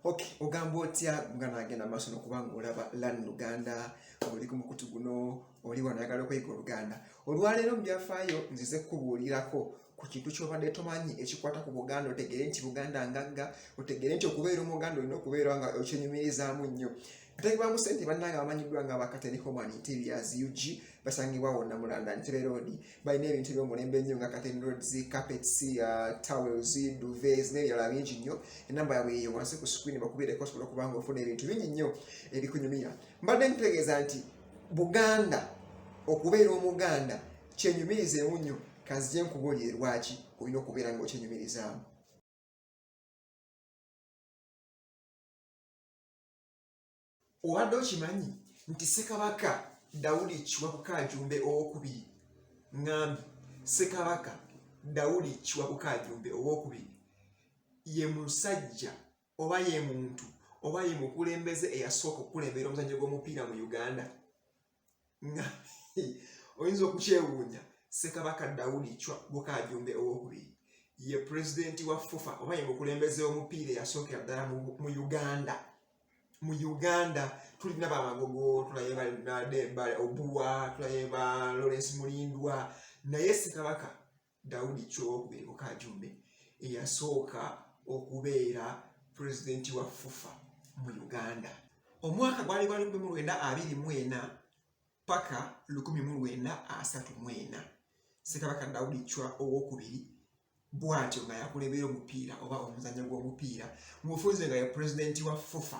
okay ogamba otya nga nagenda maaso nokuba nga olaba lan luganda oli ku mukutu guno oli wanayagala okweyiga oluganda olwaleero mu byafaayo nzize kukubuulirako ku kintu kyobadde tomanyi ekikwata ku buganda otegeere nti buganda ngagga otegeere nti okubeera omuganda olina okubeera nga okyenyumirizamu nnyo Katayi ba Musente bannange abamanyiddwa nga bakateni Homan Interiors UG basangibwa wonna mu London Ntebe Road balina ebintu eby'omulembe ennyo nga kateni roads, carpets, uh, towels, duvets n'ebirala bingi nnyo. Ennamba yaabwe eyo wansi ku screen bakubireko osobola okuba nga ofuna ebintu bingi nnyo ebikunyumira. Mbadde nkutegeeza nti Buganda okubeera Omuganda kyenyumirizeemu nnyo kanzije nkubuulire lwaki olina okubeera nga okyenyumirizaamu. obadde okimanyi nti ssekabaka dawudi kiwabuka ajumbe owokubiri ŋambi ssekabaka dawudi kiwabuka ajumbe owokubiri ye musajja oba ye muntu oba ye mukulembeze eyasooka okukulembera omuzannyo gw'omupiira mu uganda nga oyinza okukyewuunya ssekabaka dawudi cwa bukajumbe owokubiri ye pulezidenti wa fufa oba ye mukulembeze omupiira eyasookera ddala mu uganda mu uganda tulina bamagogo tulaye obuwa tulaye ba lawrence mulindwa naye ssekabaka Daudi Kyowokubiri Mukajumbe eyasooka okubeera pulezidenti wa FUFA mu Uganda. Omwaka gwali gwa lukumi mu lwenda abiri mu ena paka lukumi mu lwenda asatu mu ena Ssekabaka Daudi Chwa owokubiri bwatyo nga yakulebera omupiira oba omuzannyo gw'omupiira mu bufunze nga ye pulezidenti wa FUFA.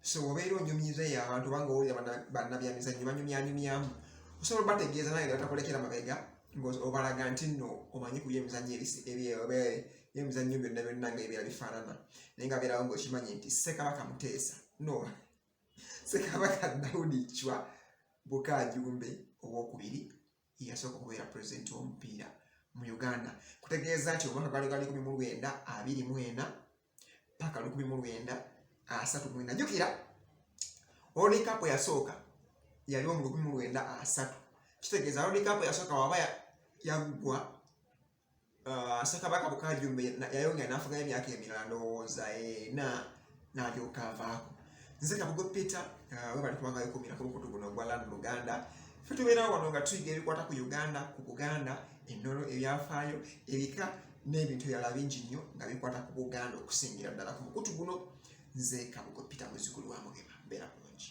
so obeera onyumyiza eyo abantu obanga owulira bannabyamizannyo banyumyanyumyamu osobola obategeeza naye nga batakulekera mabega obalaga nti nno omanyi ku byemizannyo byemizannyo byonna byonna nga ebiera bifaanana naye nga beerawo ngaokimanyi nti ssekabaka muteesa no ssekabaka daudi cwa bukajumbe owokubiri yasooka okubeera pulezidenti w'omupiira mu uganda kutegeeza nti omwaka gwali gwaliko mu lwenda abiri mu ena paka lukumi mu lwenda asatu mwenda jukira World Cup yasooka yali mu lukumi mu lwenda asatu kitegeeza World Cup yasooka waba yaggwa uh, Ssekabaka Bukajjumbe yayongera n'afuganya emyaka emirala ndowooza ena n'alyoka avaako nze kabugo peter uh, webali kubanga wekumira ku mukutu guno ogwa land luganda fe tubeerawo wano nga tuyiga ebikwata ku uganda ku buganda ennono ebyafaayo ebika n'ebintu ebirala bingi nnyo nga bikwata ku buganda okusingira ddala ku mukutu guno nze kabugo peter muzigulu wa mugema mbeera bulungi